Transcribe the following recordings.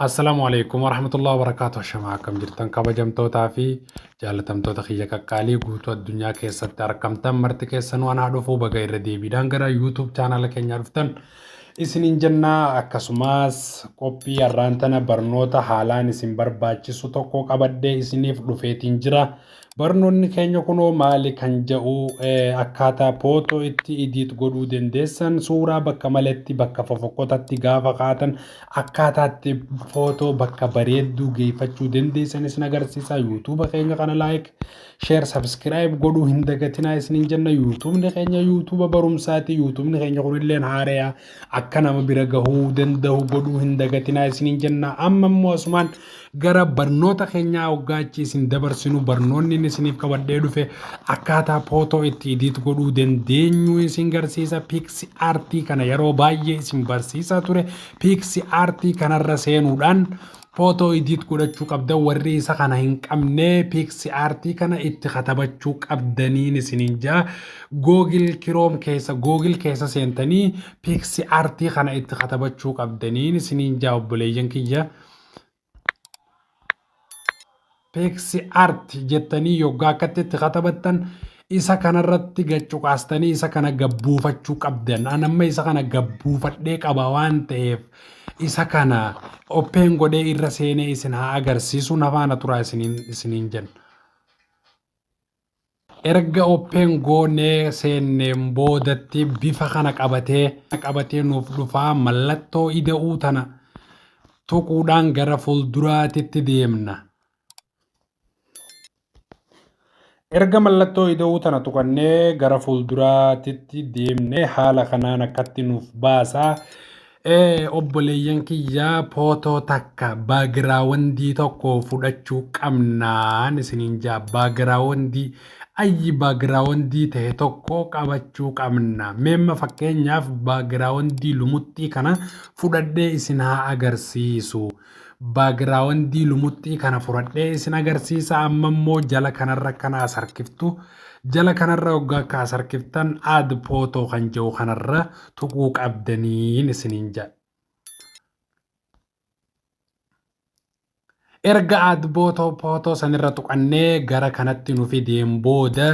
Assalamu alaikum warahmatullahi wabarakatuh Ashamaa akkam jirtan kabajamtootaa fi jaalatamtoota kiyya qaqqaalii guutuu addunyaa keessatti argamtan marti keessan waan haa dhufuu baga irra deebiidhaan gara YouTube chaanaala keenyaa dhuftan isiniin jennaa akkasumas qophii har'aan tana barnoota haalaan isin barbaachisu tokko qabadhee isiniif dhufeetiin jira. Barnoonni keenya kunoo maali kan ja'u akkaataa photo itti edit godhuu dandeessan suuraa bakka maletti bakka fofokkotatti gaafa kaatan akkaataa itti photo bakka bareedduu geeffachuu dandeessan isin agarsiisa yuutuuba keenya kana like share subscribe godhuu hin dagatinaa isinin jenna yuutuubni keenya yuutuuba barumsaati yuutuubni keenya kunilleen haareya Akka nama bira gahuu dandahu godhuu hin dagatinaa isiniin jenna. Amma immoo asumaan gara barnoota keenyaa hoggaa achi isin dabarsinu barnoonni inni isiniif qabadhee dhufe akkaataa pootoo itti idiit godhuu dandeenyu isin garsiisa. Piiksi aartii kana yeroo baay'ee isin barsiisaa ture. Piiksi aartii kanarra seenuudhaan Photo edit godhachuu qabdan warrii isa kana hin qabnee pixiart kana itti katabachuu qabdaniin isinin jaa google chrome keessa google keessa seentanii pixiart kana itti katabachuu qabdaniin isinin jaa obboleeyyan kiyya Teeksi Art jettanii yoggaa akkatti itti katabattan isa kanarratti gad cuqaastanii isa kana gad buufachuu qabdan. An amma isa kana gad buufadhee qaba waan ta'eef isa kana open godhee irra seenee isin haa agarsiisu na faana turaa isiniin isiniin jenna. Erga open goone seenneen boodatti bifa kana qabatee qabatee nuuf dhufaa mallattoo ida'uu tana tuquudhaan gara fuulduraatitti deemna. Erga mallattoo ida'uu tana tuqannee gara fuulduraatitti deemne haala kanaan akkatti nuuf baasaa. Ee obboleeyyan kiyya pootoo takka baagiraawandii tokko fudhachuu qabnaan isiniin jaa baagiraawandii ayyi baagiraawandii ta'e tokko qabachuu qabna meemma fakkeenyaaf baagiraawandii lumuxxii kana fudhadhee isin haa agarsiisu Baagiraawandii lumuxxii kana furadhee isin agarsiisa amma immoo jala kanarra kan as harkiftu jala kanarra hoggaa akka as harkiftan aad pootoo kan jiru kanarra tuquu qabdaniin isiniin jedha. Erga aad bootoo pootoo sanirra tuqannee gara kanatti nu fideen booda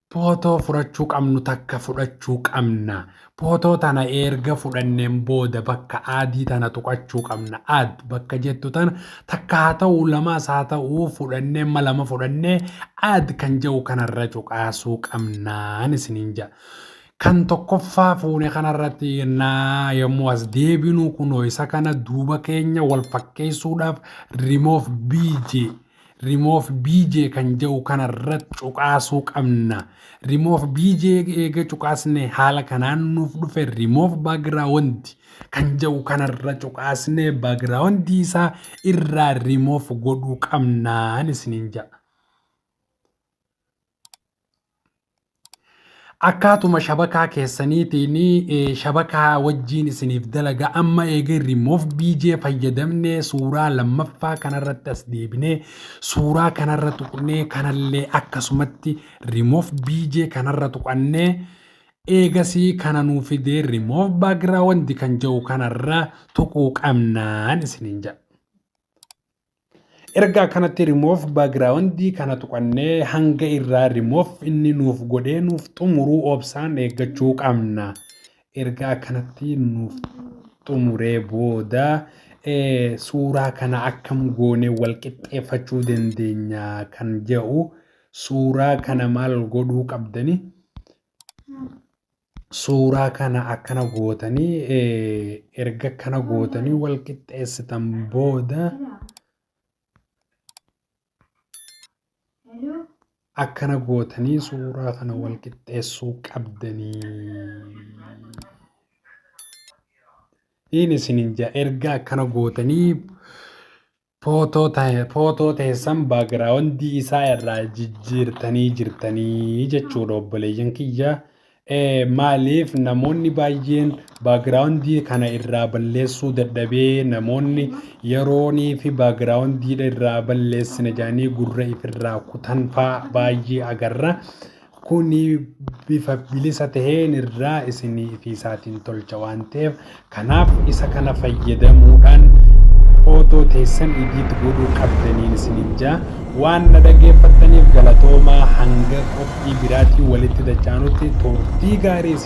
Pootoo furachuu qabnu takka fudhachuu qabna. Pootoo tana eerga fudhanneen booda bakka aadii tana tuqachuu qabna. Add bakka jettu tana takka haa ta'uu lamaas haa ta'uu fudhannee amma lama fudhannee add kan jedhu kanarra cuqaasuu qabnaan isiniin jedha. Kan tokkoffaa fuune kanarratti naa yommuu as deebinu kunoo isa kana duuba keenya wal fakkeessuudhaaf remove bj remove bj kan ja'u kana irrat cuqaasuu qabna remove bj eega cuqaasne haala kanaan nuuf dhufe remove background kan ja'u kana irra cuqaasne background isaa irraa remove godhuu qabnaan isiniin ja'a akkaatuma shabakaa keessaniitiin eh, shabakaa wajjiin isiniif dalaga amma eega remove bj fayyadamne suuraa lammaffaa kanarratti as deebine suuraa kanarra tuqnee kanallee akkasumatti remove bj kanarra tuqannee eegasii kana nuu fidee remove background kan jedhu kanarra tuquu qabnaan isiniin jedha. Erga akkanatti remove background kana tuqannee hanga irraa remove inni nuuf godhee nuuf xumuruu obsaan eeggachuu qabna. Erga akkanatti nuuf xumuree booda suuraa kana akkam goonee wal qixxeeffachuu dandeenya kan jedhu suuraa kana maal godhuu qabdanii suuraa kana akkana gootanii erga akkana gootanii wal qixxeessitan booda akkana gootanii suuraa kana wal qixxeessuu qabdanii. Inni isinin jaa erga akkana gootanii Footoo ta'e footoo teessan baagiraawundii isaa irraa jijjiirtanii jirtanii jechuudha obboleeyyan kiyya. Eh, Maaliif namoonni baay'een baagiraawundii kana irraa balleessuu dadhabee namoonni yeroonii fi baagiraawundii irraa balleessina jedhanii gurra ifirraa kutan faa baay'ee agarra. Kuni bifa bilisa ta'een irraa isinii fi isaatiin tolcha waan ta'eef kanaaf isa kana fayyadamuudhaan footoo teessan idiit godhuu qabdaniin isiniin jaa waan na dhaggeeffattaniif galatoomaa hanga qophii biraatiin walitti dachaanutti turtii gaarii